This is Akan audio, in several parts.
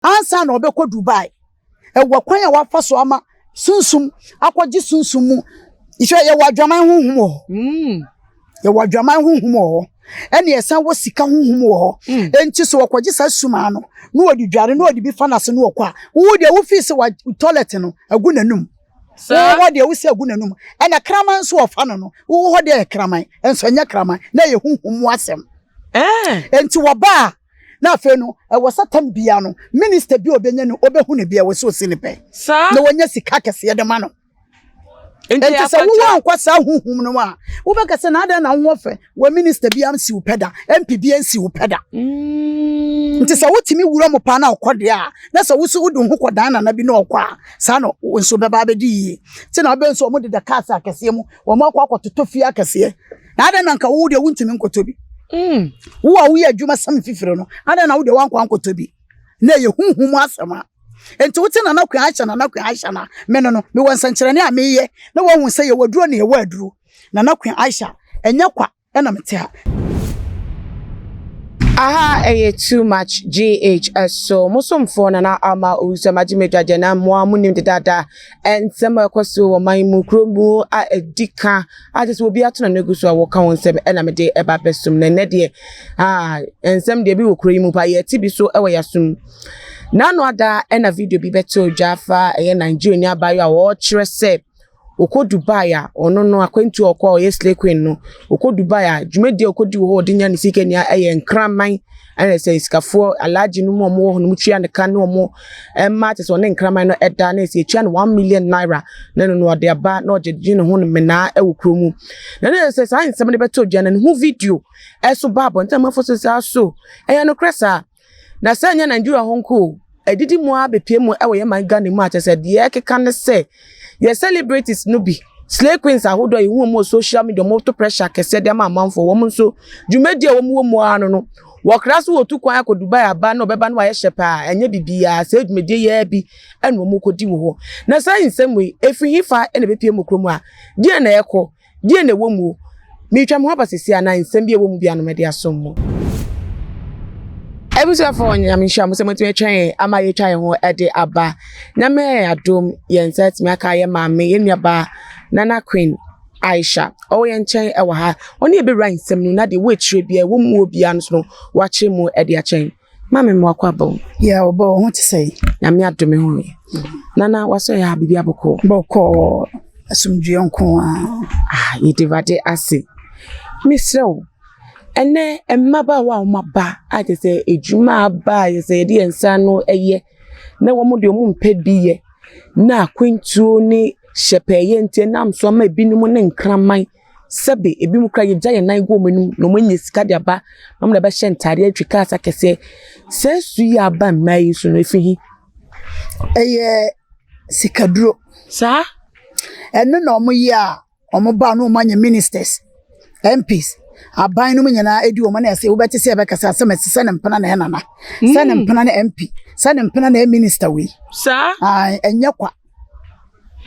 ansa na ɔbɛkɔ Dubai. Ɛwɔ kwan a wafa so ama sunsum akɔgye sunsum mu. Nhwɛ, yɛwɔ adwaman honhom wɔ hɔ. Mm. Yɛwɔ adwaman honhom wɔ hɔ. Ɛne ɛsan wɔ sika honhom wɔ hɔ. Mm. Enti so wɔkɔgye saa sumaa no, na wɔde dware, na wɔde bi fa n'ase na wɔkɔ a, wo deɛ wofii sɛ wa tɔlɛt no agu n'anum. Wowɔ hɔ deɛ wosɛ agu n'anum. Ɛna kraman nso wɔfa no no, wowɔ hɔ deɛ yɛ kraman, nso ɛnyɛ kraman, na ɛyɛ honhom mu asɛm. Eh. Enti wɔba a, na afei no ɛwɔ sɛ tam bia no minista bi a ɔbɛnya no ɔbɛhu no bi a ɛwɔ sɛ ɔsi ne pɛ na wɔnya sika kɛseɛ de ma no nti sɛ wowɔ ankɔ saa huhum no a wobɛka sɛ na adɛn na wowɔ fɛ wɔ minista bi ansi wo pɛ da mp bi ansi wo pɛ da mm. nti sɛ wotumi wura mu paa na ɔkɔ deɛ a na sɛ woso wode ho kɔdan nana bi na ɔkɔ a saa na wo nso bɛba abɛdi yie nti na wobɛ nso ɔmo deda cars akɛseɛ mu wɔn akɔ akɔtotɔ fie akɛseɛ Na adɛn na anka wo deɛ wontumi nkɔtɔ bi? Mm. Wo a woyɛ adwuma sɛm fifiri no, adɛn na wo deɛ woankɔ ankɔtɔ bi? Na ɛyɛ huhu mu asɛm a enti wote nana kwan ahyɛ nana kwan ahyɛ na me no no mewɔ nsɛnkyerɛnne a meyɛ na wɔahu sɛ yɛwɔ aduro na yɛwɔ aduro nana kwan ahyɛ ɛnyɛ kwa ɛna mete ha aha ɛyɛ too much gh ɛso mo somfoɔ nana ama owusu amagye me dwagyɛ na mmoa mo nim dedaada nsɛm a ɛkɔ so wɔ man mu kuro mu a ɛdi ka a kyɛ sɛ obi ato n'ano agu so a wɔka wɔn nsɛm na mede ɛba abɛsom na ɛnɛ deɛ ah nsɛm deɛ bi wɔ kuro yi mu pa yɛte bi so wɔ yɛasom n'ano ada na video bi bɛte odwa afa ɛyɛ nigeria ni abaayewa a wɔkyerɛ sɛ ɔkɔ dubai a ɔno no akwantu a ɔkɔ a ɔyɛ slay queen no ɔkɔ dubai a dwumadie a ɔkɔdi wɔ hɔ ɔde nya ne sika nia ɛyɛ nkraman Ɛna sɛ sikafoɔ alhaji no mu a wɔwɔ hɔ no tua ne ka ne wɔn mma te sɛ ɔne nkraman no ɛda na ɛsɛ ɛtua no one million naira na ɛno no ɔde aba na ɔgye gye ne ho no menaa ɛwɔ kuro mu na ne sɛ saa nsɛm no bɛtɔ dwa na ne ho video ɛso ba abɔnten amafo so saa so ɛyɛ no korɛ saa na sɛ ɛnyɛ Nigeria ho nko Adidi mu ara bepue mu wɔ yɛn man Ghana mu a kyerɛ sɛ deɛ ɛkeka ne sɛ yɛ celebrities no bi slay queens ahodoɔ yɛhu wɔn wɔ social media wɔn to pressure kɛseɛ de ama amanfoɔ wɔn nso dwumadi a wɔn wɔ mu ara no no wɔkra so wɔtu kwan akɔ Dubai aba na ɔbɛba no ayɛ hyɛ paa ɛnyɛ biribiara sɛ dwumadi yɛ bi ɛna wɔn kɔdi wɔ hɔ na saa nsɛm wei ɛfiri he fa ɛna ɛbɛpie mu kurom a deɛ na ɛkɔ Deɛ na ɛwɔ mu o? Meretwa me ho aba seesei anaa nsɛm bi a ɛwɔ mu biara na mɛde asom mo? Abusuafoɔ, Nyame nhyira mo sɛ moatumi atwa yɛn ama yɛatwa yɛn ho de aba. Nyame ayɛ adom, yɛn nsa atumi aka yɛn maame, yɛn nuabaa Nana Queen Aisha. Ɔwɔ yɛn nkyɛn wɔ ha. Ɔne yɛn bɛwura nsɛm no mu na deɛ ɛwɔ akyire biara, ɛwɔ mu o biara no nso no, wakyerɛ mu de akyɛ yɛn. Maame mmoa kɔ aba mu. Yɛ ɔbɔ wo ho te sɛ. Nyame adome ho yɛ. Nana wasɔ yɛ ha biribi abɔkɔɔ. Bɔkɔɔ asomdwoeɛ nko a. Ah yɛde Awurade ase. Mesrɛ wo ɛnɛ mmabaawa a wɔn aba a kyerɛ sɛ adwuma aba a yɛsɛ yɛde yɛn nsa ano yɛ na wɔn deɛ wɔn mpɛ bi yɛ na akwantuo ne hyɛpɛɛyɛ nti ɛnam so ama ebinom ne nkraman Sɛbe ebinom koraa yegya hɛn nan gu hɔn enum na wɔanya sika dze aba na wɔdze abɛhyɛ ntar, etwa cars akɛse. Saa su yi a aba mbaa yi so no efi he? Ɔyɛ sikaduro. Saa? Ɛno na wɔyɛ a wɔba na wɔanya ministers, MPs, aban no mu nyinaa edi wɔn na ɛsɛ wobɛte sɛ ɛbɛkasa asɛm ɛsɛ sɛ ne mpena na ɛnana, sɛ ne mpena na MP, sɛ ne mpena na ɛyɛ minister wei. Saa? Ae, ɛnyɛ kwa.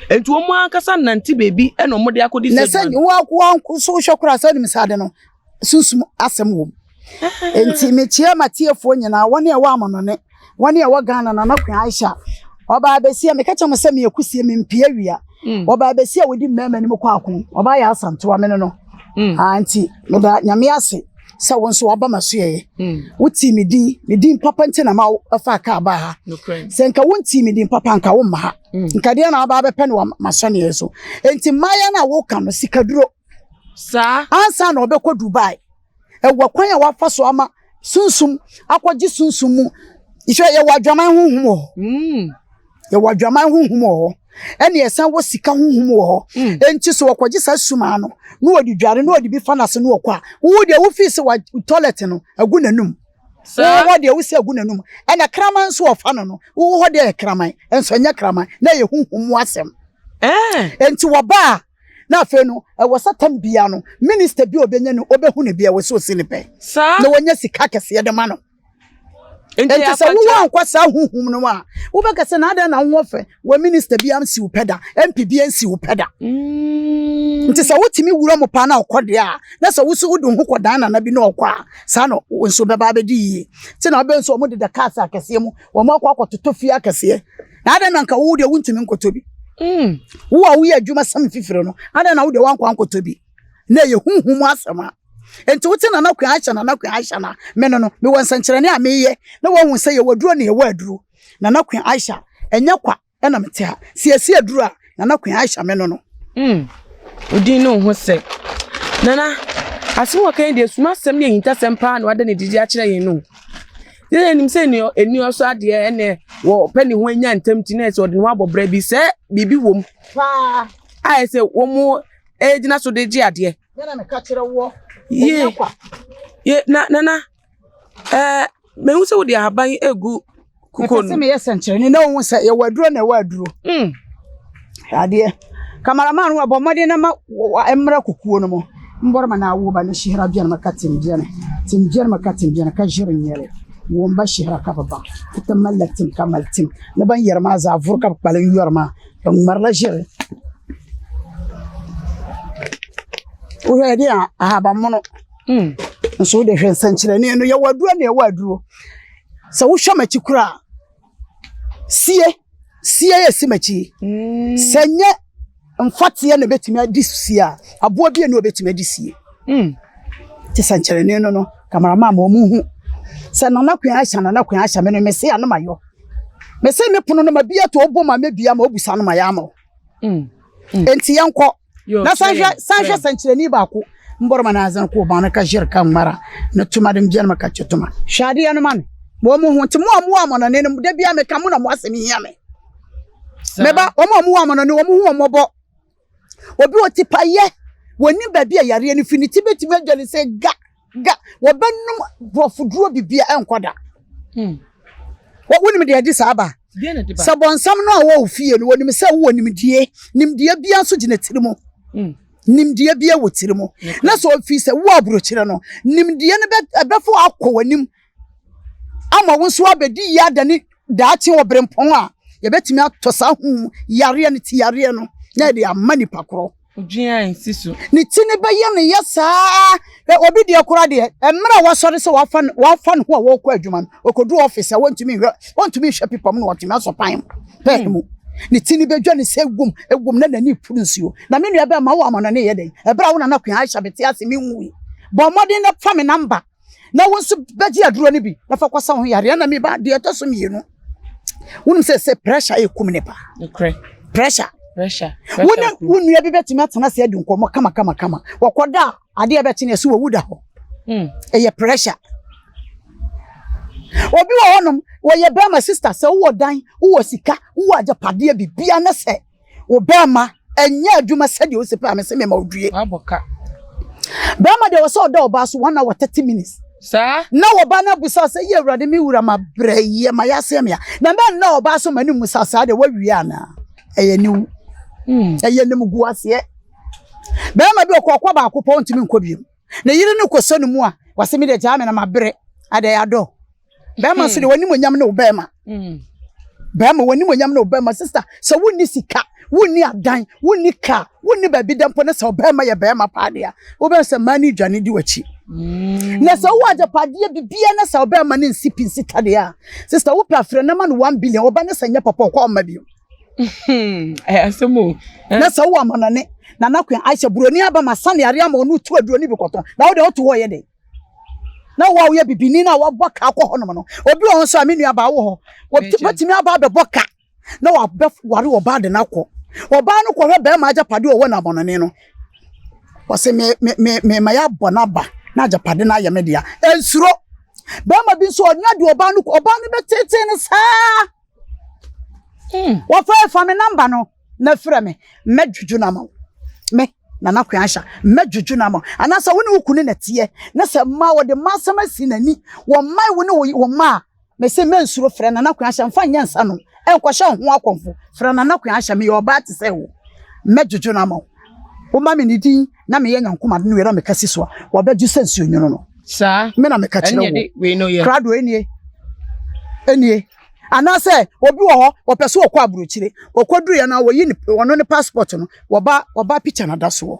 Enti wɔn ankasa nnante baabi na wɔde akɔdi sɛ. Na sɛ wɔn so wohwɛ koraa sɛ wonim sɛ ade no sunsum asɛm wom. Enti mekyia m'atiefoɔ nyinaa wɔn a ɛwɔ amanɔne wɔn a ɛwɔ Ghana na nɔkwe Aisha ɔbaa bɛsi a meka kyɛ mo sɛ meyɛ kusie mempie awia hmm. ɔbaa bɛsi a wɔdi mmarima anim kɔ ako ɔbaa yɛ asantewa me no no hmm. ah, nti meda nyame ase sɛ wo nso waba m'asoɛeɛ. Hmm. Wotii me din, me din papa nti na ma wofa kaa baa ha. Sɛ nka wontii me din papa nka womma ha. Hmm. Nka deɛ na waba abɛpɛ ne m'asɔneɛ so. Enti mmaayɛ no a woka no sikaduro. Saa. Ansa na ɔbɛkɔ Dubai. Ɛwɔ kwan a wafa so ama sunsum akɔgye sunsum mu. Nhyɛ yɛwɔ adwaman honhom wɔ hɔ. Hmm. yɛwɔ adwaman honhom wɔ hɔ ɛne ɛsan wɔ sika honhom wɔ hɔ hmm. enti sɛ wɔkɔgye saa sumaa no na wɔde dware na wɔde bi fa n'ase na wɔkɔ a wowo deɛ wofii sɛ wa toilet no agu n'anum wowɔ hɔ deɛ wosɛ agu n'anum ɛna kraman nso wɔfa no no wowɔ hɔ deɛ yɛ kraman nso ɛnyɛ kraman na yɛ honhom mu asɛm eh. enti wɔbaa na afei no ɛwɔ sɛ tam bia no minista bi a ɔbɛnya no ɔbɛhu no bia wɔ sɛ ɔsi ne pɛ na wɔnya sika kɛseɛ de ma no nti sɛ wowɔ ankɔ saa huhum no a wobɛka sɛ na adɛn na wowɔ fɛ wɔ minista bi ansi wo pɛ da mp bi ansi wo pɛ da mm. nti sɛ wotumi wura mu paa na ɔkɔ deɛ a na sɛ woso wode ho kɔ dan nana bi na ɔkɔ a saa na wo nso bɛba abɛdi yie nti na wobɛ nso wɔde da cars akɛseɛ mu wɔn akɔ akɔtoto fie akɛseɛ na adɛn na nka wowo deɛ wontumi nkɔtɔ bi mm. wo a woyɛ adwuma sɛm fifiri no adɛn na wo deɛ woankɔ ankɔtɔ bi na ɛyɛ honhom mu asɛm a enti wote nana kwan ahyɛ nana kwan ahyɛ na me no no mewɔ nsɛnkyerɛnne a meyɛ na wɔahu sɛ yɛwɔ aduro na yɛwɔ aduro nana kwan ahyɛ ɛnyɛ kwa ɛna mete ha sɛ yɛsi aduro a nana kwan ahyɛ me no no mm. wodin ne wo ho sɛ nana asɛm wɔka yi deɛ suma asɛm ne ahintasɛm paa na wada ne didi akyerɛ yɛn no yɛn nim sɛ ɛni ɔsɔ adeɛ ɛnɛ wɔpɛ ne ho anya ntam ti na ɛsɛ ɔde ne ho abɔ berɛ bi sɛ biribi wɔ mu a ɛsɛ wɔn ɛgyina so de gye adeɛ. Yɛna meka kyerɛ woɔ. Yie. Yie na nana ɛɛ mehu sɛ wode ahaban yi egu kukuo no. Mepɛ sɛ meyɛ sɛnkyerɛnne na ohun sɛ yɛwɔ aduro na ɛwɔ aduro. Mm. Adeɛ. Kamaraman wa bɔ mmɔden na ma mmerɛ kukuo no mu. Mbɔrɔ ma na awo ba ne hyehra biara ma ka tim biara. Tim biara ma ka tim biara ka jere nyɛre. Wɔn ba hyehra ka baba. Kuta mala tim ka mal tim. Na ban yɛrɛ ma zaavoro ka kpalen yɔrɔ ma. Mmara no hyɛ wohwɛ yɛde a ahabamono hmm. nso wode hwɛ nsɛnkyerɛnne no yɛwɔ aduro ne ɛwɔ aduro sɛ wohwɛ m'akyi koraa sie sie yɛ si m'akyi hmm. sɛ nyɛ mfateɛ na ɛbɛtumi adi sie a aboa bi ne ɔbɛtumi adi sie hmm. te sɛnkyerɛnne no no kamaramaa ma ɔmu hu sɛ nana kwan ahyɛ nana kwan ahyɛ me no mese anom ayɔ Mese ne pono no ma bia to obo ma mebia ma obu sa no ma ya ama wo. Mm. mm. Enti yɛnkɔ. Na sanhwɛ sanhwɛ sankyerɛni baako mbɔrɔ ma na azan ko ba no ka jir ka mara na tuma dem bian ma ka tuma. Hwɛ adeɛ no ma me. Mo mo ho nti mo a mo a mo na ne no da bia me ka mo na mo asɛm hia me. Meba wɔn a mo a mo na ne wɔn ho wɔn mɔbɔ. Obi wɔ tipaeɛ, wɔnim baabi a yareɛ no firi, ne ti bɛtumi adwa ne sɛ ga ga, wɔbɛnom borɔfoduro bibia ɛnkɔ da. Hmm. Wonim deɛ ɛde saa ba? Sɛ bɔnsam no a wɔwɔ fie no, wɔnim sɛ wowɔ nimdie, nimdie bia nso gyina tiri mu. Hmm. nimdeɛ bi wɔ tiri mu na sɛ ɔfiri sɛ wo aburokyerɛ no nimdeɛ no bɛfo akɔ w'anim ama wo nso abɛdi yie ada ne daakye wɔ berempɔn a yɛbɛtumi atɔ saa ho yareɛ no ti yareɛ no na yɛde ama nipa korɔ ne ti ne bɛyɛ ne yɛ saa obi deɛ kora deɛ mmerɛ a wasɔre sɛ wafa ne ho a wɔkɔ adwuma no ɔkɔduru ɔfis a wɔntumi nhwɛ wɔntumi nhwɛ pipa mu na wɔtumi asɔ pan mu pɛn mu ne ti ne bɛdwa ne sɛ egum egum na n'ani puru nsuo na me nua bɛɛ ma wo ama no ne yɛ dɛn ɛberɛ a wo nana kwan ahyɛ bɛte ase me nwui bɔ mmɔden na fa me namba na wo nso bɛgye aduro no bi na fa kɔsa wo ho yareɛ na meba deɛ ɛtɔ so mmienu wonim sɛ sɛ pressure ɛkum ne paa pressure pressure wo ne wo nua bi bɛtumi atena ase adi nkɔmmɔ kama kama kama wɔkɔda a adeɛ bɛkye ne ɛso wɔwu da hɔ hmm. ɛyɛ pressure obi wɔ hɔnom wɔyɛ bɛrima sista sɛ wowɔ dan wowɔ sika wowɔ agyapadeɛ bibia ne sɛ wo bɛɛma ɛnyɛ adwuma sɛdeɛ ɔsi pɛ a mese mema ɔdue. Wabɔ ka. Bɛɛma deɛ wɔsɛ ɔda ɔbaa so one hour thirty minutes. Saa. Na ɔbaa no abusa sɛ yɛ awurade me wura ma brɛ yɛ ma yɛaseɛ mea. Na na nna ɔbaa so ma no mu sa saa deɛ wawie anaa. Ɛyɛ ne wu. Hmm. Ɛyɛ ne mu gu aseɛ. Bɛɛma bi ɔkɔ ɔkɔ baako pɔ ntumi nkɔ biom. Ne yere no kɔ sɛ no mu a wɔsɛ me deɛ gyaa me na mabrɛ adɛ adɔ. bɛrima nso deɛ wɔn animonyam ne wo bɛrima mm. bɛrima wɔn animonyam ne wo bɛrima sista sɛ wonni sika wonni adan wonni kaa wonni baabi dɛ mpo ne sɛ ɔbɛrima yɛ bɛrima paa deɛ wobɛn sɛ mmaa ne dwane di w'akyi mm. na sɛ wowɔ agyapadeɛ bibia ne sɛ ɔbɛrima ne nsi pi nsi tadeɛ a sista wopɛ afrɛ no ma no one billion ɔba ne sɛ nyɛ papa ɔkɔ ɔma bio hmm, eh, asɛm o eh. na sɛ wowɔ amanɔne na nakoa ahyɛ buroni aba ma sane areɛ ama ɔno tu aduroni bi kɔtɔn na wode woto hɔ yɛ dɛn na wo a woyɛ bibini na wabɔ ka akɔ hɔnom no obi wɔ nso a me nuabaa wɔ hɔ wɔbɛtumi aba abɛbɔ ka na wabɛware ɔbaa de no akɔ ɔbaa no kɔhwɛ bɛrima agyapade ɔwɔ no abɔnɔne no wɔse mema yɛabɔ no aba na agyapade no ayɛ me dea ɛnsuro bɛrima bi nso ɔnya de ɔbaa no ɔbaa no bɛtetee no saa Hmm. wɔfrɛ fa me namba no na frɛ me mɛdwodwo no ama wo me nana kwan ahyɛ mɛdwodwo no ama wo anaasɛ wo ne wo kunu na teɛ na sɛ ma wɔde ma asɛm asi n'ani wɔmmae wo ne wo ma a mese mɛnsuro frɛ nana kwan ahyɛ mfa nyɛ nsa no ɛnkɔhyɛ wo ho akɔmfo frɛ nana kwan ahyɛ meyɛ ɔbaa te sɛ wo mɛdwodwo no ama wo woma me ne din na meyɛ nyankoma no wera meka si so a wɔbɛdwo sɛ nsuo nwono no saa me na meka kyerɛ wo krado ɛnie ɛnie Anaasɛ obi wɔ hɔ, wɔpɛ sɛ wɔkɔ aburokyire. Wɔkɔduruiɛ no a, wɔyi ne, wɔno ne passport no, wɔba, wɔba picture no da soɔ.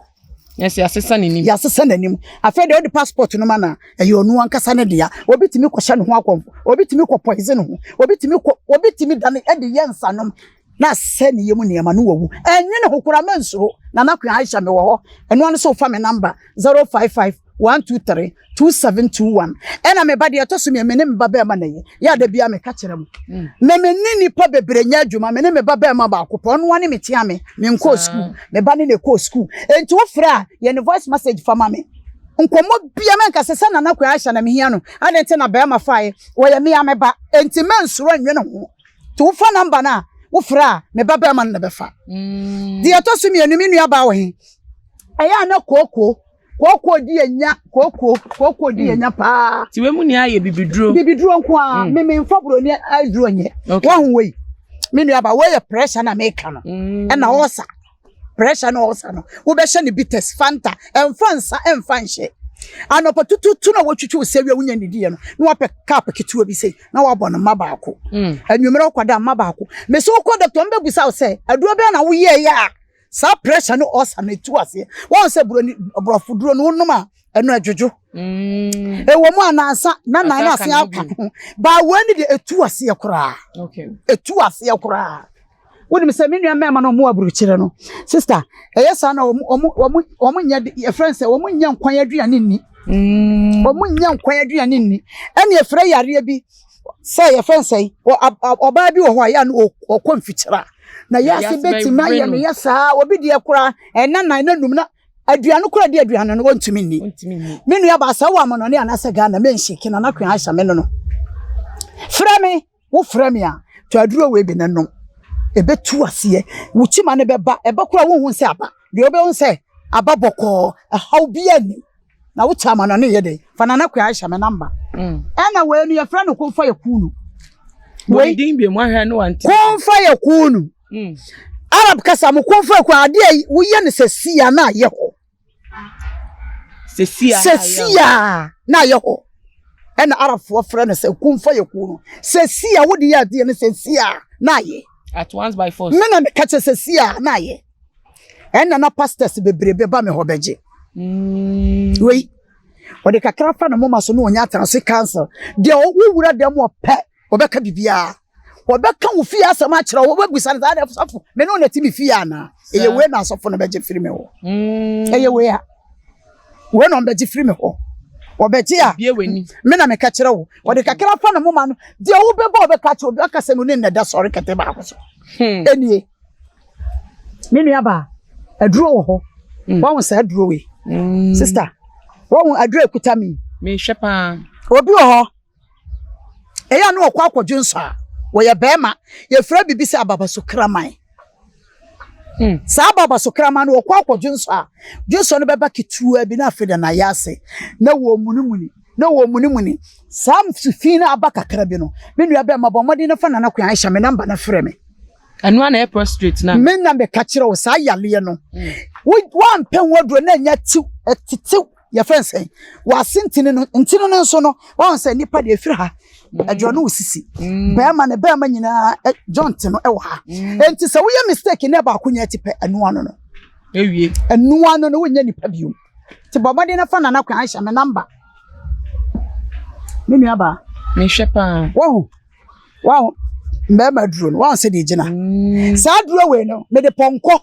Yes, yɛasesa n'anim. Yɛasesa n'anim. Afei deɛ wode passport no ma no a, ɛyɛ ɔno ankasa ne dea. Obi tumi kɔhyɛ ne ho akɔmfo. Obi tumi kɔ poison ho. Obi tumi kɔ, obi tumi da ne, de yɛ nsanom na asɛ ne yam nneɛma no wawu. Ɛnwene ho koraa, mansuro. Nana Queen Aisha, mewɔ hɔ. Ɛno ano sɛ wofa me number 055 One two three two seven two one. Ɛna me ba deɛ ɛtɔ so mmienu me ne me ba bɛrima na yɛ yɛ ada bi a meka kyerɛ mu na me ne nipa bebree nyɛ adwuma me ne me ba bɛrima baako pɔ ɔno ne me tia me me nkɔɔ sukuu me ba ne na ɛkɔɔ sukuu enti wofrɛ a yɛ ne voice message fa ma me nkɔmmɔ bia mɛnka sɛ sɛ nana kwan ahyɛ na mehia no adɛn nti na bɛrima faeɛ wɔyɛ me a me ba enti mɛnsoro nnwe ne ho nti wofa namba no a wofrɛ a me ba bɛrima no na bɛfa mm. deɛ ɛtɔ so mmienu me nua baa wɔ he ɛyɛ a na kookoo kooko di yɛ nya kooko kooko di yɛ nya hmm. paa. ti wei mu ni ayɛ bibiduro. bibiduro nko a hmm. mímí nfa buroni aduro nyɛ wɔn ho wei mi nua ba wɔyɛ pressure na meka no hmm. ɛna ɔsa pressure na ɔsa no wobɛhyɛ ne bitters fanta ɛnfa nsa ɛnfa nhyɛ anɔpa tututu na wɔtwitwi wo sɛ wia wonya ne diɛ no na wapɛ cup ketewa bi sei na wabɔ no mma baako anwummerɛ wokɔda mma baako mese wokɔ dɔktɔ mbɛbusa wo sɛ aduro bɛɛ na woyɛɛyɛ a saa pressure ne ulcer na etu aseɛ wɔn sɛ buroni borɔfo duro no wonom a ɛno ɛdwodwo mm. ɛwɔ mu anansa na nan ase aka ho baa wɔn ani de etu aseɛ koraa etu aseɛ koraa wonim sɛ me nua mmarima no ɔmo aburukyerɛ no sista ɛyɛ saa na ɔmo ɔmo ɔmo ɔmo nyɛ yɛfrɛ nsɛ ɔmo nyɛ nkwan aduane nni mm. ɔmo nyɛ nkwan aduane nni ɛna yɛfrɛ yareɛ bi sɛ yɛfrɛ no sɛn ɔbaa bi wɔ hɔ a yɛ no ɔkɔ mfikyerɛ a na yɛase bɛtumi ayɛ no yɛ saa obi deɛ koraa ɛna nan na num na aduane koraa di aduane no wɔntumi nni me nua baa sɛ wɔ amanɔne anaasɛ ghana menhyeke na nakwe ahyɛ me no no frɛ me wo frɛ me a tɔ aduro wei bi no nom ɛbɛtu aseɛ wo kyima no bɛba ɛba koraa wonhu sɛ aba deɛ wobɛhu sɛ aba bɔkɔɔ ɛhaw biaa nnim na wo kyɛ ama no ne yɛ dɛ fa nana kua ahyɛ me namba mm. ɛna wei no yɛfrɛ no komfa yɛ kuu no wei din bi mu ahwɛ no wante komfa yɛ kuu no mm. arab kasa mo komfa yɛ kuu adeɛ a woyɛ no sɛ sia na ayɛ hɔ sɛ sia na ayɛ hɔ ɛna arabfoɔ frɛ no sɛ komfa yɛ kuu no sɛ sia wode yɛ adeɛ no sɛ sia na ayɛ at once by force me na meka kyɛ sɛ sia na ayɛ ɛnna na pastors bebree bɛba me hɔ bɛgye mm. wei ɔde kakra fa ne moma so na ɔnya atena so council deɛ wowura dɛm ɔpɛ ɔbɛka biribiara ɔbɛka wo fie asɛm akyerɛ wo wobɛbusa no saa na sɔfo me ne wo nati me fie anaa ɛyɛ wei na asɔfo no bɛgye firi me hɔ mm. ɛyɛ wei a wei na ɔmbɛgye firi me hɔ ɔbɛgye a me na meka kyerɛ wo ɔde kakra fa ne moma no deɛ wobɛbɔ ɔbɛka kyerɛ obi aka sɛ no ne nnɛda sɔre kɛtɛ baako so hmm. ɛnie Me nuabaa, aduro wɔ hɔ. Mm. Wɔn saa aduro wei. Mm. Sista, wɔn aduro ekuta mi. Mehwɛ paa. Obi wɔ hɔ. Eya no ɔkɔ akɔdwe nsɔ a. Wɔyɛ bɛrima. Yɛfrɛ bibi sɛ ababaso kraman. Mm. Saa ababaso kraman no ɔkɔ akɔdwe nsɔ a. Dwe nsɔ no bɛba ketewa bi na afei de n'ayɛ ase. Na wɔn munimuni. Na wɔn munimuni. Saa fi no aba kakra bi no. Me nua bɛrima bɔ mmɔden no fa nana kwan ahyɛ me namba no frɛ me. Ɛno ara na ɛyɛ prostrate na. Me na meka kyerɛ wo saa yareɛ no. Woampɛ ho aduro na ɛnya tiw, ɛtetew yɛfrɛ no sɛn w'ase ntini no ntini no nso no wɔn sɛ nipa deɛ efiri ha ɛdwɔ no osisi mm. bɛrima ne bɛrima nyinaa joint no ɛwɔ ha mm. nti sɛ woyɛ mistake ne baako nyɛ ti pɛ ɛnoa no no ewie ɛnoa no no wonyɛ nipa bio te bɔ ɔmɔden nafa nana kwan ahyɛ me namba me nua baa mehwɛ paa wɔn. wahu mmarima aduro no wahu sɛdeɛ gyina mm. saa aduro wei no mede pɔnkɔ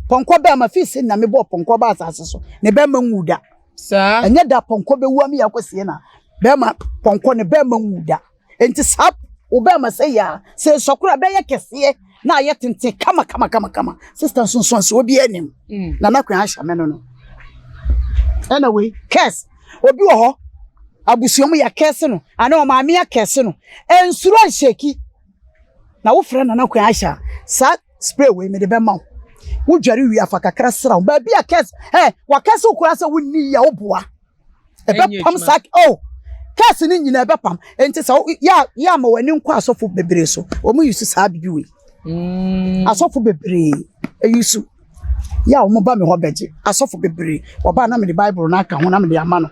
pɔnkɔ bɛɛ ma fii sɛ nyame bɔɔ pɔnkɔ baa asase so ne bɛrima nwu da saa ɛnyɛ da pɔnkɔ bɛwu ama yɛakɔ sie na bɛrima pɔnkɔ ne bɛrima nwu da nti saa wo bɛrima sɛ yɛ a sɛ nsɔkora bɛyɛ kɛseɛ na ayɛ tenten kama kama kama kama sista nsonsoanso obi anim mm. na nakwan ahyɛ me no no ɛna wei kɛs obi wɔ hɔ abusua mu yɛkɛse no anaa ɔmaame akɛse no nsuro nhyɛki na wofrɛ nana kwan ahyɛ a saa spray wei mede bɛma wo wodware wie afa kakra sra wo baabi a kɛse ɛ wakɛse wo koraa sɛ wonni yɛ woboa ɛbɛpam saa oh kɛs no nyinaa ɛbɛpam nti sɛ yɛ ama w'ani nkɔ asɔfo bebree so wɔn yi so saa bibi wei mm. asɔfo bebree eyi so yɛ a wɔn ba mi hɔ bɛgye asɔfo bebree wɔba na mi de baibul na aka ho na mi de ama no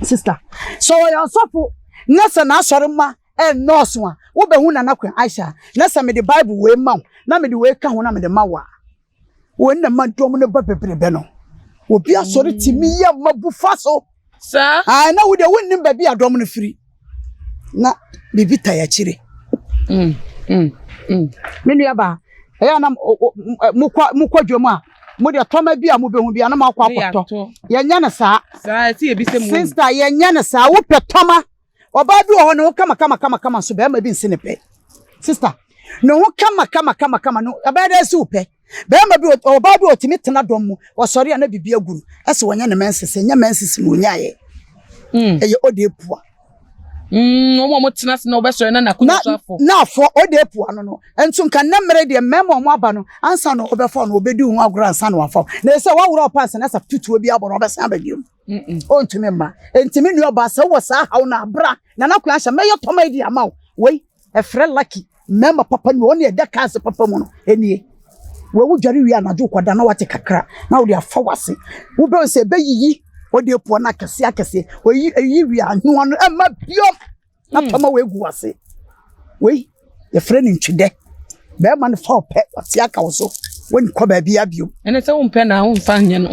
sista sɛ ɔyɛ asɔfo na sɛ n'asɔre ma ɛnnɔɔso a wobɛhu nana kwan aisha na sɛ mi de baibul wei ma wo na mi de wei ka ho na mi de ma wo a. Wei na ma dɔm no ba bebrebe no. Obi asɔre tumi yɛ ma bu fa so. Saa. Ae na wo deɛ wonnim baabi a dɔm no firi. Na biribi tae akyire. Mm, mm, mm. Me nuabaa, ɛyɛ a na mokɔ mokɔ dwam a mo deɛ tɔma bi a mobɛhu bi a na moakɔ akɔtɔ. Yɛnyɛ no saa. Saa ɛte ebi sɛ mo. Sista yɛnyɛ no saa wopɛ tɔma Ɔbaa bi wɔ hɔ, ne ho kama kama kama kama nso barima bi nsi ne pɛ. Sista, ne ho kama kama kama kama no, ɛbɛyɛ dɛ ɛsi wo pɛ. Barima bi, ɔbaa bi ɔtumi tena dɔm mu, ɔsɔre a na biribi agu no, ɛsɛ wɔnyɛ ne menses, ɛnyɛ menses na ɔnyaeɛ. Mm. Ɛyɛ ɔde apua. Mm, wɔn a wɔtena ase na wɔbɛsɔre na n'akonnwa so afɔ. Na afɔ ɔde apua no no, nso nka ne mmerɛ deɛ mmarima a wɔn aba no, ansa na ɔbɛfɔ no, ɔbɛdi ho agorɔ ansa na wafɔ. Na ɛsɛ wɔaworɔ ɔpa ansa na ɛsɛ tutuo bi abɔ na ɔbɛsan aba bio. ɔntumi mma nti me nua ɔbaa sɛ wɔ saa haw no abra na na kwan sɛ mɛyɛ tɔma adi ama wo wei ɛfrɛ lucky mmarima papa ni ɔne ɛda kaa se papa mu no ɛnie wɔwu dware wie anadwo kɔda na wate kakra na wode afa wase wobɛhu sɛ ɛbɛyiyi ɔde apuɔ no akɛseɛ akɛseɛ ɔyi wie a noa no ɛma biom na hmm. pama wei gu wase wei yɛfrɛ no ntwedɛ bɛrima no fa ɔpɛ wate aka wo so wɔn kɔ baabi abio. ɛnɛ sɛ wɔn pɛ na wɔn fa nyɛ no.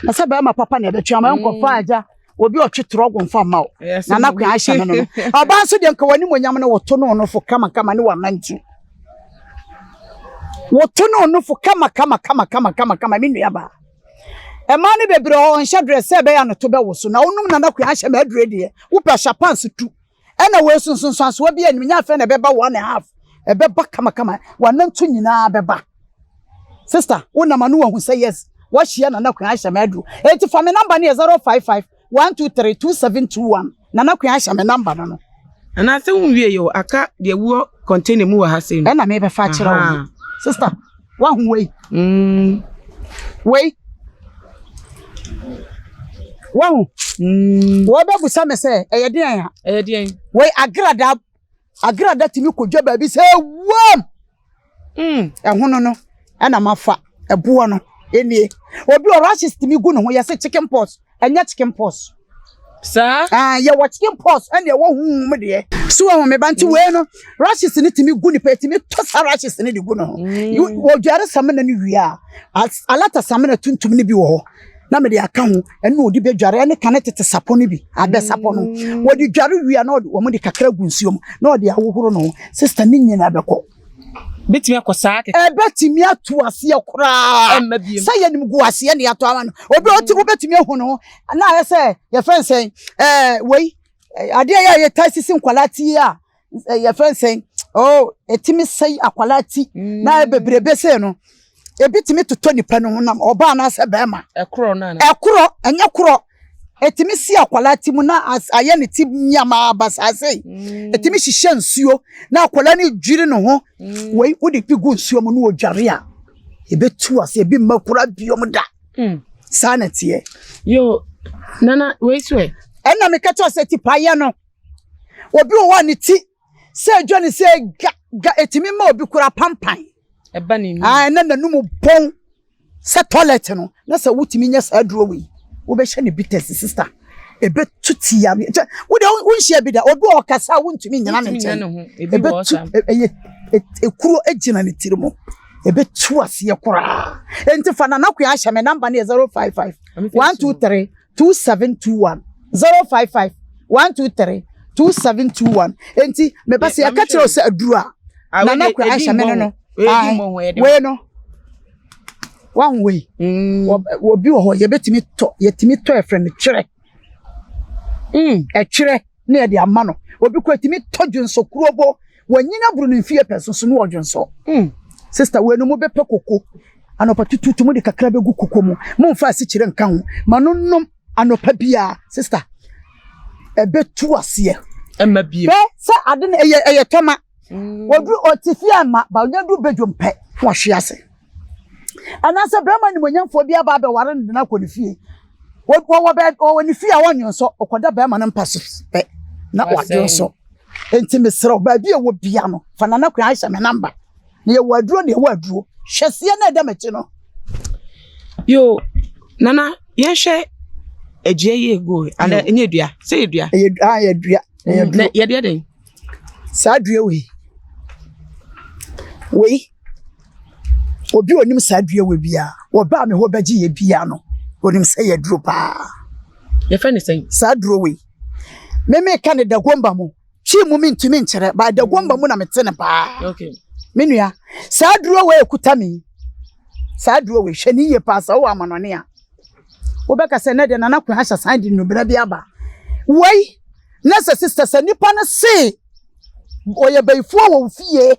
na sɛ bɛrima papa na ɛbɛtwe ama nkɔ fa agya obi ɔtwe torɔ ɔgɔn fa ma o na anakun ahyɛ no no ɔbaa nso deɛ nka wɔn anim onyam no wɔto no ɔno fo kamakama ne wɔn anantu wɔto no ɔno fo kamakama kamakama kamakama ne nua baa. Mmaa no bebree wɔ hɔ ɔnhyɛ dress sɛ ɛbɛyɛ a ne to bɛwo so na wonom nana kua ahyɛ ma adure deɛ wopɛ hyɛ pants tu ɛna wei so nsonsansoɔ bi anim nyɛ afɛ na ɛbɛba one and half ɛbɛba kamakama wanantu nyinaa bɛba sister wonam ano wahu sɛ yes wahyia nana kua ahyɛ ma aduro eti fa me namba no yɛ zero five five One two three two seven two one Nana Queen ahyɛ me number no no. Anaasɛ wonwie yɛ o aka deɛ ɛwɔ container mu wɔ ha sei no. Ɛna mebɛfa akyerɛ wo no. Sister, wahu wei? Mm. Wei. Wahu? Mm. Wɔbɛbusa me sɛ ɛyɛ deɛn a? Ɛyɛ deɛn? Wei agradaa agrada tumi kɔdwa baabi sɛ wuam mm, ɛhono no ɛna mafa ɛboɔ no ɛnie obi wɔ rashes tumi gu ne ho yɛse chicken pox ɛnyɛ chicken pox saa ah, yɛwɔ chicken pox ɛne ɛwɔ huhum deɛ so wɔn meba nti mm. wei no rashes no tumi gu nipa tumi tɔ sa rashes no de gu ne ho mm. wɔdware samina no wie a alata samina tuntum no bi wɔ hɔ na mede aka ho ɛna ɔde bɛdware ɛne kane tete sapɔ no bi abɛ sapɔ no mm. wɔde dware wie a na wɔn de kakra gu nsuo mu na wɔde ahohoro no sista ne nyina bɛkɔ bɛtumi akɔ saa kɛkɛ ɛbɛtumi ato aseɛ koraa sɛ yɛnim gu aseɛ ne yɛato ama no obi ɔte mm. wobɛtumi ahu no ho na ayɛ sɛ yɛfrɛ nsɛn wei adeɛ yɛ a yɛtae sisi nkwadaa tie a yɛfrɛ no sɛn oh ɛtumi sɛe akwadaa ti na bebrebe sɛ no ebi tumi totɔ nipa no honam ɔbaa no asɛ bɛrima ɛkorɔ no ɛkorɔ ɛnyɛ korɔ ɛtumi si akwadaa ti mu na ayɛ ne ti nneɛma abasaase ɛtumi mm. hyehyɛ nsuo na akwadaa no dwiri ne ho mm. wei wode bi gu nsuo mu na ɔdware a ɛbɛtu ase ebi mma kora biom da mm. saa na teɛ yo nana wei so ɛ ɛna meka kyɛ sɛ tipaeɛ no Obi wɔ hɔ a ne ti sɛ edwa ne sɛ ga ga etumi ma obi kura pampan. Ɛba ne num. Ae na n'anum bɔn sɛ tɔlɛt no na sɛ wotumi nya saa aduro wei wobɛhyɛ ne bitters sista ebetu ti yareɛ kyɛ wo deɛ wonhyia bi da obi ɔkasa a wontumi nyina ne nkyɛn ebetu ɛyɛ ekuro egyina ne tiri mu ebetu aseɛ koraa enti fa nana kwan ahyɛ me namba no yɛ zero five five one two three. two seven two one zero five five one two three two seven two one enti meba sɛ yɛka kyerɛ sɛ aduru a ah, nana kura ahyɛ me no no wei no wahu wei mm. obi wɔ hɔ yɛbɛtumi tɔ yɛtumi tɔ ɛfrɛ no kyerɛ mm. ɛkyerɛ ne yɛde ama no obi kɔ ɛtumi tɔ dwonsokuro bo Wanyin aboro ne mfeɛ pɛ so so ne ɔdwonsɔ. Sister wei no mo bɛ pɛ koko anɔpa tututu mo de kakra bɛ gu koko mo mo nfa asikyire nka ho ma no nom anɔpa biara sister ɛbɛ tu aseɛ. Ɛma biem. Bɛ sɛ ade no ɛyɛ ɛyɛ tɔma. Ɔduru ɔte fie ama ba ɔnya du bɛ dwom pɛ na ɔhwe ase. Anaasɛ barima animuonyamfoɔ bi aba abɛware no de no akɔ ne fie. Ɔwɔ baabi ɔwɔ ne fie a ɔnnwonsɔ, ɔkɔda barima no mpa so pɛ na wadwonsɔ. Enti mesrɛ wo, baabi a ɛwɔ bia no, fa Nana Queen Aisha me namba. Na yɛwɔ aduro na ɛwɔ aduro. Hwɛ seɛ na ɛda m'akyi no. Yo, Nana, yɛnhwɛ adua yi ɛgo anaa ɛnyɛ dua, sɛ yɛ dua? Ɛyɛ dua, ɛyɛ dua. Yɛdeɛ dɛn? Saa dua wei, wei, obi a ɔnim saa dua wei biara, wɔbaa me hɔ bɛgye yɛ biara no, ɔnim sɛ yɛ duro paa. Yɛfɛ ne sɛn? Saa duro wei, me meka ne dagomba mu, twi mu mentumi nkyerɛ, ba dagomba mu na mete ne paa. Okay. Me nua, saa duro wei ɛkuta me, saa duro wei, hwɛ ne yie paa sɛ wowɔ amanɔne a. Wobɛka sɛ nɛ deɛ Nana Kwame ahyɛ asan de nnubena bi aba. Wei na sɛ sister sɛ nipa no se ɔyɛ bayifoɔ wɔ wo fie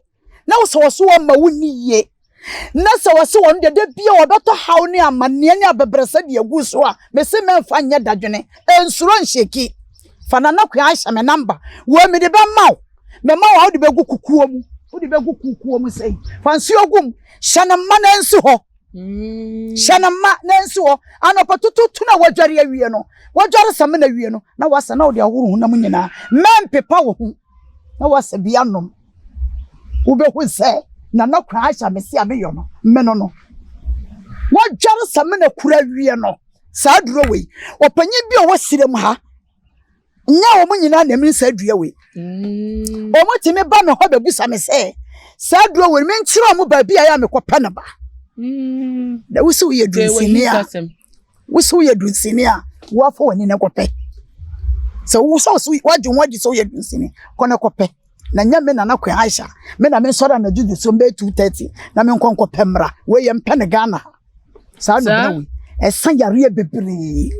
na wo sɛ ɔso ɔma wo ni yie na sɛ ɔse wɔn deɛ da bia ɔbɛtɔ haw ne amanneɛ ne abɛbrɛsɛ de agu so a mese mɛmfa nyɛ dadwene ɛnsuro nhyeki fa Nana Kwame ahyɛ me namba wei mede bɛma wo mɛma wo a wode bɛgu kukuo mu wode bɛgu kukuo mu sɛi fa nsuo gum hyɛ no mma no nsi hɔ hyɛ no ma na nsi hɔ anɔpa tututu na wadware awie no wadware samina awie no na wasa na ɔde ahoro honam nyinaa mɛmpepa wɔ ho na wasa bi anom wobɛhu sɛ nana kora ahyɛ mese a meyɔ no meno no wadware samina kura awie no saa duro wei ɔpanyin bi a ɔwɔ serem ha Nyɛ wɔn nyinaa na mene saa dua wei. Mm. Wɔn ti mi ba mi hɔ bɛ busa mi sɛ saa dua wei mi nkyerɛ wɔn baabi a yɛ a mi kɔ pɛ ne ba. Mm. Na wusu yɛ dunsini a wusu yɛ dunsini a wafɔ wɔn ani na kɔ pɛ. Sɛ wusu wusu wadi wɔn adi sɛ wɔyɛ dunsini kɔ na kɔ pɛ. Na nyɛ mi na na kɔ Aisha mi na mi nsɔrɔ na juju so mbɛ two thirty na mi nkɔ nkɔ pɛ mmra wɔyɛ mpɛ ne Ghana ha. saa nubene wei ɛsa yareɛ bebree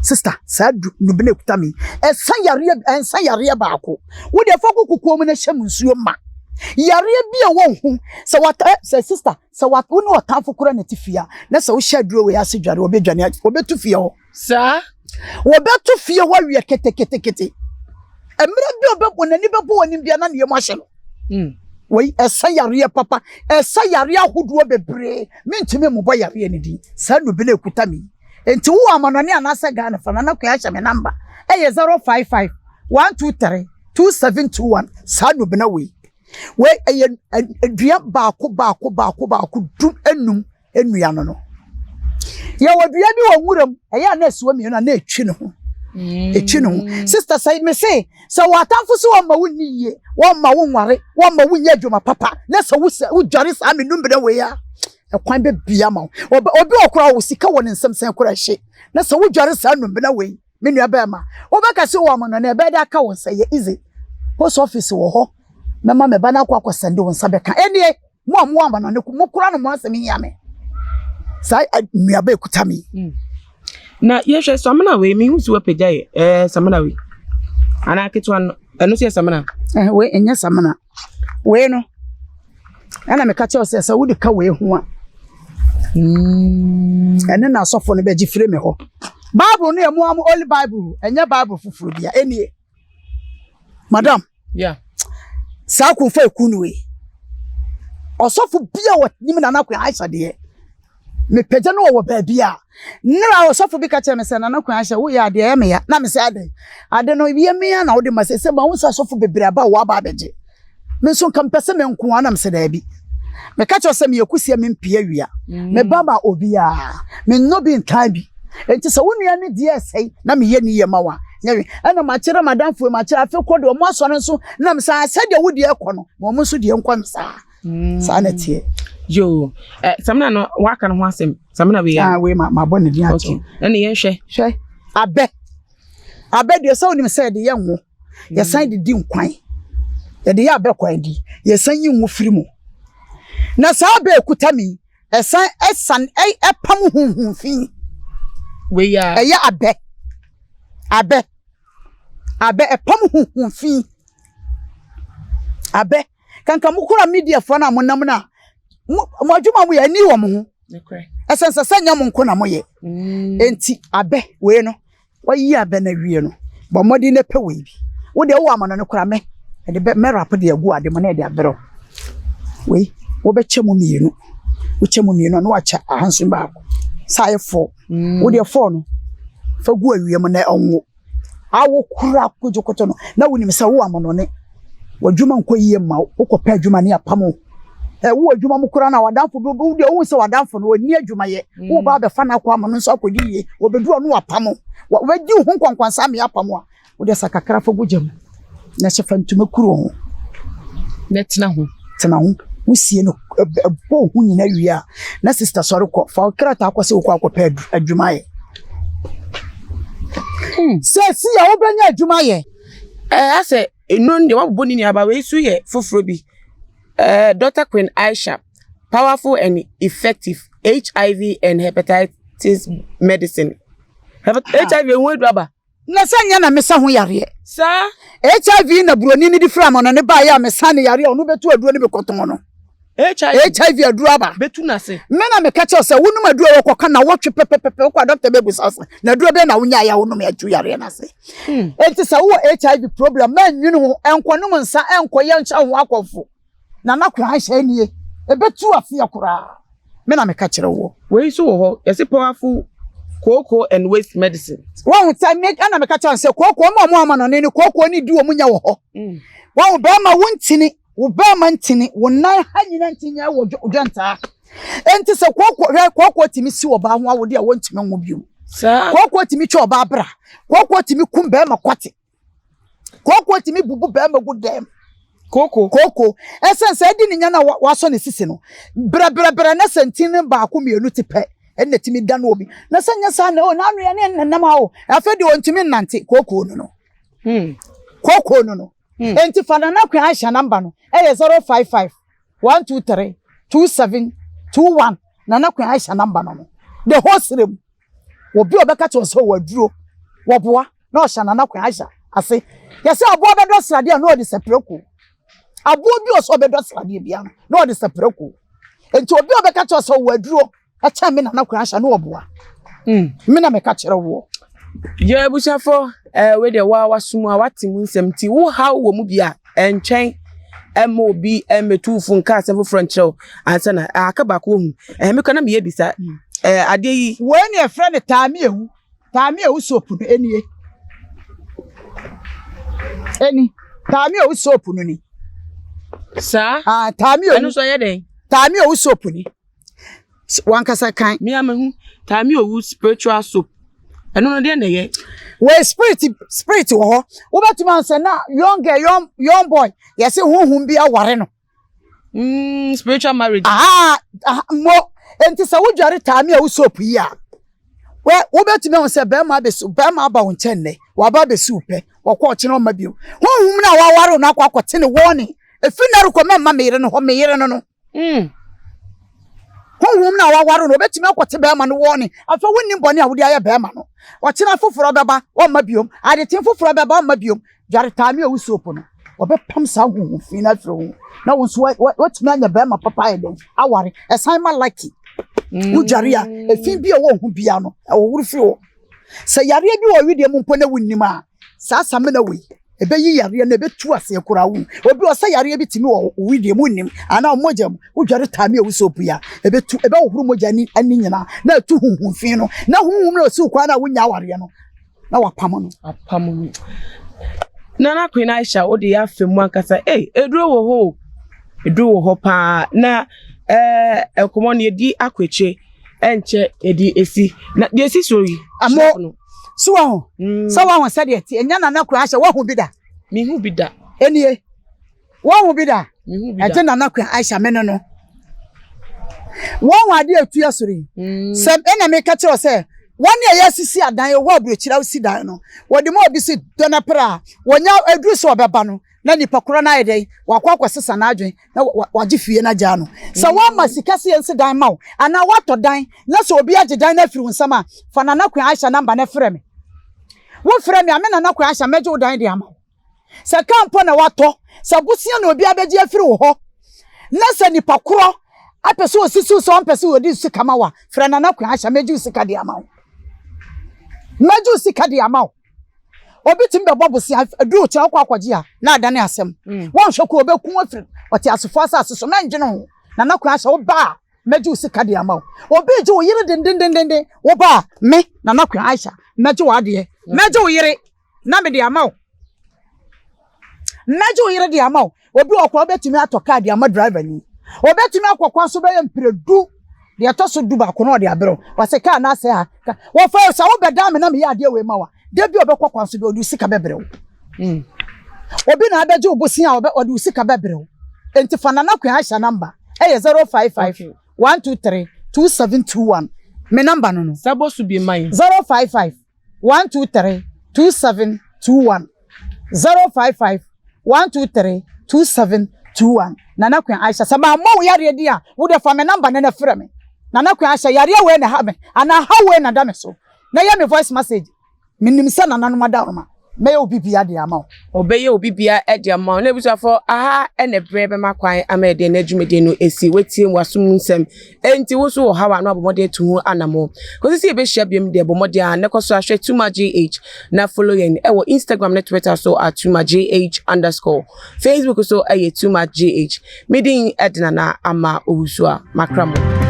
sista saa nubene kuta mi ɛsa yareɛ ɛnsa yareɛ baako wo deɛ fɔ koko kɔn mu na hyɛ mu nsuo ma yareɛ bi a ɛwɔ ho sɛ wata sɛ sista sɛ wata wo ne ɔtanfo kora na ti fia na sɛ wohyɛ aduro wei ase dware ɔbɛdwane ɔbɛtu fia hɔ. Saa. Wɔbɛto fie hɔ awiɛ keteketekete. Mmerɛ bi ɔbɛ wɔn ani bɛbɔ wɔn bia na ne yam ahyɛ no. Hmm. Wei ɛsa yareɛ papa, ɛsa yareɛ ahodoɔ bebree. Mentumi mmobɔ yareɛ no din. Saa nnubile ekuta me yi. Nti wowɔ amanɔne anaasɛ Ghana fa Nana Kwea hyɛ me namba. Ɛyɛ 055 123 2721 saa nnubena wei. Wei ɛyɛ dua baako baako baako baako dum enum nnua no no. Yɛwɔ dua bi wɔ nwura mu, ɛyɛ a na asiwa mmienu a na ɛtwi ne ho. Ɛtwi ne ho. Mm. Sista sɛ me se, sɛ wɔ atamfo so wɔmma wo nni yie, wɔmma wo nware, wɔmma wo nyɛ adwuma papa, na sɛ wodware saa me numbere wei a, ɛkwan bɛbia ma wo. Obi ɔkora wo sika wɔ ne nsɛm sɛn kora hye, na sɛ wodware saa numbena wei, me nua bɛrima wobɛka sɛ wɔn no na ɛbɛyɛ de aka wo nsa yɛ ize post office wɔ hɔ mɛma me ba no akɔ akɔ sɛnde wo nsa bɛka ɛneɛ mo a mo ama no ne mo kora no mo asɛm hia me saa nnuaba ɛkuta me mm. na yɛhwɛ samina wei mehu si wapagya yɛ ɛɛ samina wei anaa ketewa no ɛno sɛ yɛ samina ɛnyɛ samina Wei no, ɛna meka kyerɛ wo sɛ, sɛ wode ka wei ho a, ɛne na asɔfo no bɛgye firi me hɔ. Bible no yɛ mo amo Holy Bible, ɛnyɛ Bible foforɔ bia, ɛnie. Madam. Yeah. Saa akunfo eku no yi. Ɔsɔfo bia wɔ nim na na akwa Aisha deɛ. mepagya no wɔ baabi a nnera ɔsɔfo bi ka kyerɛ me sɛ nana kwan ahyɛ woyɛ adeɛ ɛyɛ meya na mesɛ adɛn ade no yɛ meya na wode ma sɛ sɛ ma wo sɛ asɔfo bebree aba a wɔaba abɛgye me nso nka mepɛ sɛ me nko ara na mesɛ daabi meka kyerɛ sɛ meyɛ kusia mempia wia mm. meba ma obiara menyɔ bi ntaa bi nti sɛ wo nua ne deɛ ɛsɛe na meyɛ ne yɛ ma wo a nyɛwe ɛna makyerɛ madamfoɔ makyerɛ afei kɔ deɛ ɔmo asɔre nso nam saa sɛdeɛ wo deɛ ɛkɔ no ma ɔmo nso deɛ nkɔ no saa saa na ɛteɛ. yoo ɛ eh, samina no waka no ho asɛm samina wei ah wei ma ma bɔ ne din ato ɛna yɛn hwɛ hwɛ abɛ abɛ deɛ sɛ onim sɛ ɛde yɛ ngo yɛsan de di nkwan yɛde yɛ abɛ kwan di yɛsan yi ngo firi mu na saa abɛ ekuta mi ɛsan ɛsan ɛpam huhun fi wei ya ɛyɛ abɛ abɛ abɛ ɛpam huhun fi abɛ. kanka mo kura media fo na mo nam na mo mo adwuma mo yɛ ani wɔ mo ho ɛsɛn sɛ sɛ nyɛ mo nko na mo yɛ mm. enti abɛ wei no wɔyi abɛ na wie no bɔ mmɔden na pɛ wei bi wo deɛ wowɔ amano no kura mɛ ɛde bɛ mɛ rap deɛ gu ade mo na ɛde abɛrɛ wei wɔbɛkyɛ mo mmienu wokyɛ mo mmienu na wakyɛ ahansi baako saa yɛ fɔ mm. wo deɛ fɔ no fɛ gu awie mo na ɛnwo. a wokura kotokoto no, na wonim sɛ wo amonɔne, w'adwuma nkɔ yie mma wo, wokɔpɛ adwuma ne apam wo. Ɛwo wɔ adwuma mu koraa na w'adamfo bi wo deɛ wohu sɛ w'adamfo no ɔnni adwumayɛ, mm. woba abɛfa no akɔ ama no nso akɔdi yie, wɔbɛdu ɔno apam wo, wɔbɛdi wo ho nkɔnkɔnsa ama apam wo a, wode sa kakra fa gu gya mu. Na sɛ fa ntoma kuru ho. Na tena ho. Tena ho. Wosie no bɔ ho nyina wie a, na sista sɔre kɔ. Fa wo krataa kɔ sɛ wokɔ akɔpɛ adwuma ayɛ. Hmm. Sɛ si a wobɛnya adwuma ayɛ. Ɛɛ asɛ eno deɛ wabobɔ ne nuaba wei so yɛ foforɔ bi. Ɛɛ Dr. Queen Aisha, powerful and effective HIV and hepatitis medicine. Hepat ah. HIV ehu edu aba. Na sɛ nyɛ na mesa ho yareɛ. Saa. HIV na buroni no de firi amano no baeɛ a mesa ne yareɛ a ɔno bɛtu aduro no bɛkɔtɔn no. HIV aduro aba. Bɛtu no ase. Me na meka kyɛw sɛ wonom aduro wɔ kɔka na wɔtwe pɛpɛpɛpɛ wokɔ a dɔkta bɛbusa wo sɛ na aduro bɛn na wonyaeɛ a wonom atu yareɛ no ase. Enti sɛ wowɔ HIV problem ma nnwene ho, nkɔnom nsa, nkɔyɛ nhyɛ ho akɔmfo. Nana Kwaa nhyehyɛe nie, ɛbɛtu afeɛ koraa, me na meka kyerɛ woɔ. Wei nso wɔ hɔ, yɛse powerful kooko and waste medicine. Wahu sɛ me ɛna meka kyerɛ no sɛ kooko ma ɔmo amanɔne no kooko ne di ɔmo nya wɔ hɔ. Wahu bɛrima wo ntini, wo bɛrima ntini, wo nan ha nyina nti nyɛ wɔ dwɛntaa. Enti sɛ kooko hwɛ kooko tumi si ɔbaa ho awode a wɔntumi nwo biom. Kooko tumi twa ɔbaa bra, kooko tumi kum bɛrima kwate. Kooko tumi bubu bɛrima gu dɛm. Kooko. Kooko. Ɛsɛn sɛ ɛdi ne nya na wasɔ ne sisi no. Brɛbrɛbrɛ na sɛ ntin no baako mmienu te pɛ ɛna tumi da no obi. Na sɛ nyɛ saa na o n'ano yɛ ne nnam a o. Afei de ɔntumi nnante. Kooko no no. Hmm. Kooko no no. Hmm. Enti fa nana kwan ahyɛ namba no. Ɛyɛ 055 123 27 21 nana kwan ahyɛ namba no no. The whole serem. Obi a ɔbɛka kyerɛ sɛ ɔwɔ aduro, wɔboa na ɔhyɛ Nana Kwan Aisha ase. Yɛsɛ aboa bɛdɔ sradeɛ a na ɔde sɛ prako. Aboa bi ɔsɛ ɔbɛdɔ sradeɛ biara no na ɔde sɛ prako. Nti obi a ɔbɛka kyerɛ sɛ ɔwɔ aduro ɛkyɛn me Nana Kwan Aisha na ɔboa. Mm. Me na meka kyerɛ woɔ. Yɛ abusuafo ɛɛ wei deɛ wa wasum a wate mu nsɛm nti wo ha wɔ mu bi a Ɛnkyɛn mma obi mmɛtu wo fo nka asɛm foforɔ nkyerɛ wo ansa na aka baako ɔhu. Ɛhɛ mekɔ na meyɛ bisa ɛɛ adeɛ yi. Wei ne ɛfrɛ no taamiewu. Taamiewu soap no ɛnie. Ɛni. Taamiewu soap no ni. Saa? Ah, taamiewu. Ɛno nso ɛyɛ dɛn? Taamiewu soap ni. wankasa kan. mi a mi hu taami owu spiritual soap ɛno no deɛ na ɛyɛ. wei spirit spirit wɔ hɔ wobɛtumi ansɛ na young girl young young boy yɛsi huhum bi aware no. Mm, spiritual marriage. aha aha mo nti sɛ wodware taami a wosop yi a wɛ wobɛtumi ahun sɛ bɛrima abɛsu bɛrima aba wo nkyɛn nɛ waba abɛsi wo pɛ wɔkɔ ɔkyerɛ ɔma bio huhum no a waware no akɔ akɔte ne wɔne efi na rekɔ mɛma meyere no hɔ meyere no no. Mm. Honhom na waware no, obetumi akɔte bɛrima no wɔne. Afei wonni bɔne a wode ayɛ bɛrima no. Ɔkyena foforɔ bɛba, wɔmma biom. Adetee foforɔ bɛba, wɔmma biom. Dwaretaa ne owu soap no, wɔbɛpam saa honhom fi no afiri wo ho. Na wo nso woatumi anya bɛrima papa ayɛ dɛn? Aware. Ɛsan ma lucky. Mm. Wodware a, efi bi a ɛwɔ ho biara no, ɛwɔworo firi hɔ. Sɛ yareɛ bi wɔ wedeɛ mu mpo na wonnim a, saa samina wei, ɛbɛyi yareɛ no, ɛbɛtu aseɛ koraa wo. Obi wɔ sɛ yareɛ bi tumi wɔ wo wedeɛ mu wonnim, anaa mogya mu, wodware taame a wosɔ pui a, ɛbɛtu, ɛbɛhohoro mogya no ani nyinaa, na atu honhom fi no, na honhom no a ɔsiw kwan no a wonnya awareɛ no, na wapam no. Apam no. Nana Queen Aisha, wode yɛ afɛ mu ankasa. Ei, eduro wɔ hɔ o. Eduro wɔ hɔ paa. Na ɛɛ, nkɔmmɔ no yɛdi akɔ akyire. ɛnkyɛ yɛde esi na deɛ esi so yi. ɛmo so wɔn ho mm. sɛ wɔn ho sɛ deɛ ti enya nana kura ahyɛ wɔn ho bi da. mi ho bi da. enie wɔn ho bi da. mi ho bi da ɛnti nana kura ahyɛ mi no no wɔn ho adeɛ etu ɛsoro yi mm. sɛ ɛna mi ka kyerɛ sɛ wɔn a yɛ sisi adan yɛ wɔ aburokyire awo si dan no wɔde mu obi si dɔnɛpere a wɔnya eduru sɛ ɔbɛba no. na nipa korɔ no ayɛ dɛn wakɔ akɔsesa n'adwene na wagye fie no agyaa no sɛ mm. woama sika sɛ yɛnsi dan ma wo anaa woatɔ dan na sɛ obi agye dan no afiri wo nsɛm a fa nana kwan ahyɛ namba no frɛ me wofrɛ me a me nana kwan ahyɛ mɛgye wo dan de ama wo sɛ kaa mpo na watɔ sɛ bosia na obi abɛgye afiri wo hɔ na sɛ nipa korɔ apɛ sɛ ɔsisiw sɛ ɔmpɛ sɛ ɔde sika ma wo a frɛ nana kwan ahyɛ mɛgye wo sika de ama wo mɛgye wo sika de ama wo Obi tumi bɛbɔ bosea aduru kyɛ ɔkɔ akɔgye a na adane asɛm. Wɔnhwɛ kɔ ɔbɛku afiri ɔteasefo asase so. Mɛndwene ho. Nana Kwaa sɛ woba a mɛgye wo sika de ama wo. Obi regye wo yere dendendenden. Woba a me, Nana Kwaa Aisha, mɛgye w'adeɛ. Mɛgye wo yere na mede ama wo. Mɛgye wo yere de ama wo. Obi wɔ hɔ koraa wobɛtumi atɔ kaa de ama driver ni. Obɛtumi akɔ kwan so bɛyɛ mprɛ du, deɛ ɛtɔ so du baako no ɔde abrɛ wo. Wase kaa no asɛe ha, ka, wɔfa o, sɛ wobɛdan me na meyɛ adeɛ wei ma wo a, da bi a ɔbɛkɔ kwan so bi a ɔde wo sika bɛbrɛ wo. Hmm. Obi na abɛgye wo bosea a ɔbɛ, ɔde wo sika bɛbrɛ wo. Enti fa Nana Queen Aisha number, ɛyɛ 055 Okay. 123 2721. Me number no no, Sɛ bɔ so bi ma yɛn. 055 one two three two seven two one zero five five one two three two seven two one nana kwan ahyɛ sɛ maa mɔ wo yareɛ din a wo deɛ fa me namba no na frɛ me nana kwan ahyɛ yareɛ wei na ha me anaa ha wei na da me so na yɛ me voice message menim sɛ nananom adaworoma mɛyɛ obi bia de ama wo ɔbɛyɛ obi bia de ama wo na abusuafoɔ aha ɛna berɛ bɛma kwan ama ɛdeɛ na adwumadie no ɛsi watie mu asom nsɛm Enti wo nso wɔ ɔhaw a na woabɔ mmɔden atu ho anammɔn. Kosi sɛ yebehyia bio no deɛ, bɔ mmɔden ara na kɔ so ara hwɛ TumaJH na follow yɛn wɔ Instagram ne Twitter so at TumaJH underscore. Facebook nso yɛ TumaJH. Me din de Nana Ama Owusu-A. Makra mo.